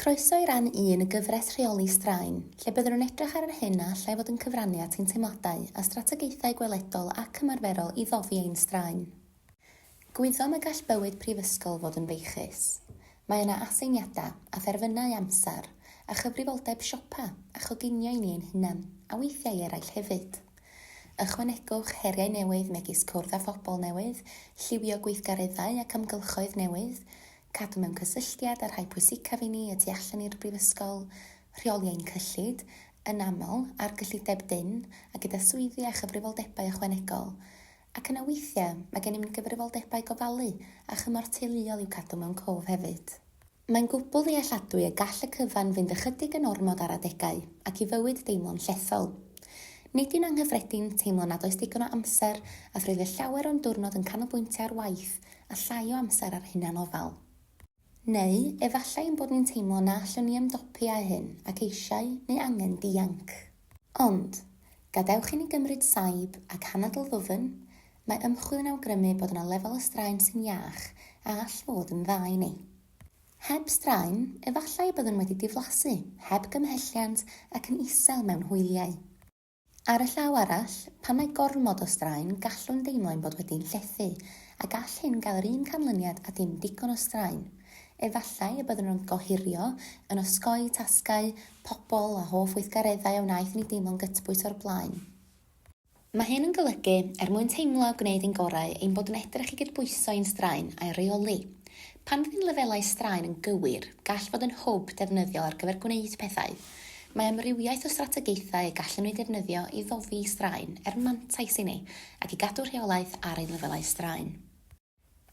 Croeso i ran un y gyfres Rheoli Straen, lle byddwn yn edrych ar yr hyn a allai fod yn cyfrannu at ein teimladau a strategaethau gweledol ac ymarferol i ddofi ein straen. Gwyddom y gall bywyd prifysgol fod yn feichus. Mae yna aseiniadau, a therfynau amser, a chyfrifoldeb siopa, a choginio i ni ein hunain, a weithiau i eraill hefyd. Ychwanegwch heriau newydd megis cwrdd â phobl newydd, lliwio gweithgareddau ac amgylchoedd newydd, Cadw mewn cysylltiad â'r rhai pwysicaf i ni y tu allan i'r Brifysgol, rheoli ein cyllid, yn aml, ar gyllideb dynn a gyda swyddi a chyfrifoldebau ychwanegol. Ac yna weithiau, mae gennym ni gyfrifoldebau gofalu a chymorth teuluol i'w cadw mewn cof hefyd. Mae'n gwbl ddealladwy y gall y cyfan fynd ychydig yn ormod ar adegau, ac i fywyd deimlo'n llethol. Nid yw'n anghyffredin teimlo nad oes digon o amser a thrwy fe llawer o'n diwrnod yn canolbwyntio ar waith a llai o amser ar hunanofal. Neu efallai ein bod ni'n teimlo na allwn ni ymdopi â hyn ac eisiau, neu angen, dianc. Ond, gadewch i ni gymryd saib ac anadl ddwfn, mae ymchwil yn awgrymu bod yna lefel o straen sy'n iach a all fod yn dda i ni. Heb straen, efallai y byddwn wedi diflasu, heb gymhelliant ac yn isel mewn hwyliau. Ar y llaw arall, pan mae gormod o straen, gallwn deimlo ein bod wedi'n llethu, a gall hyn gael yr un canlyniad â dim digon o straen. Efallai y byddwn yn gohirio, yn osgoi tasgau, pobl a hoff weithgareddau a wnaeth i ni deimlo'n gytbwys o'r blaen. Mae hyn yn golygu, er mwyn teimlo a gwneud ein gorau, ein bod yn edrych i gydbwyso ein straen a'i reoli. Pan fydd ein lefelau straen yn gywir, gall fod yn hwb defnyddiol ar gyfer gwneud pethau. Mae amrywiaeth o strategaethau y gallwn eu defnyddio i foddi straen er mantais i ni ac i gadw rheolaeth ar ein lefelau straen.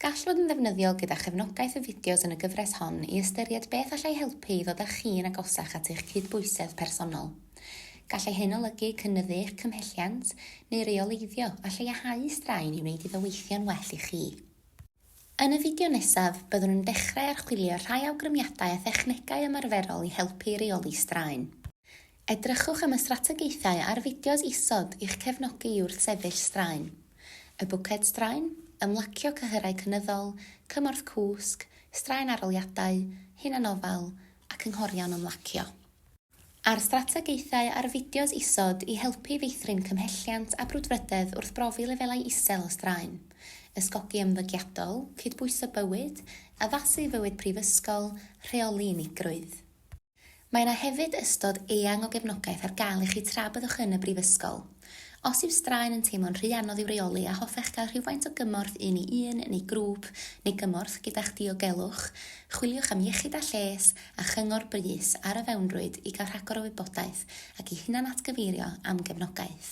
Gall fod yn ddefnyddiol gyda chefnogaeth y fideos yn y gyfres hon i ystyried beth allai helpu i ddod â chi'n agosach at eich cydbwysedd personol. Gallai hyn olygu cynyddu eich cymhelliant neu reoleiddio a lleihau straen i wneud iddo weithio'n well i chi. Yn y fideo nesaf, byddwn yn dechrau archwilio rhai awgrymiadau a thechnegau ymarferol i helpu i reoli straen. Edrychwch am y strategaethau a'r fideos isod i'ch cefnogi i wrthsefyll straen, y bwced straen, ymlacio cyhyrau cynyddol, cymorth cwsg, straen arholiadau, hunanofal, a cynghorion ymlacio. a'r strategaethau a'r fideos isod i helpu i feithrin cymhelliant a brwdfrydedd wrth brofi lefelau isel o straen, ysgogi ymddygiadol, cydbwyso bywyd, addasu fywyd prifysgol, rheoli unigrwydd. Mae yna hefyd ystod eang o gefnogaeth ar gael i chi tra byddwch yn y brifysgol. Os yw straen yn teimlo'n rhy anodd i'w reoli a hoffech gael rhywfaint o gymorth un i un neu grŵp neu gymorth gyda'ch diogelwch, chwiliwch am Iechyd a Lles a chyngor brys ar y fewnrwyd i gael rhagor o wybodaeth ac i hunanatgyfeirio am gefnogaeth.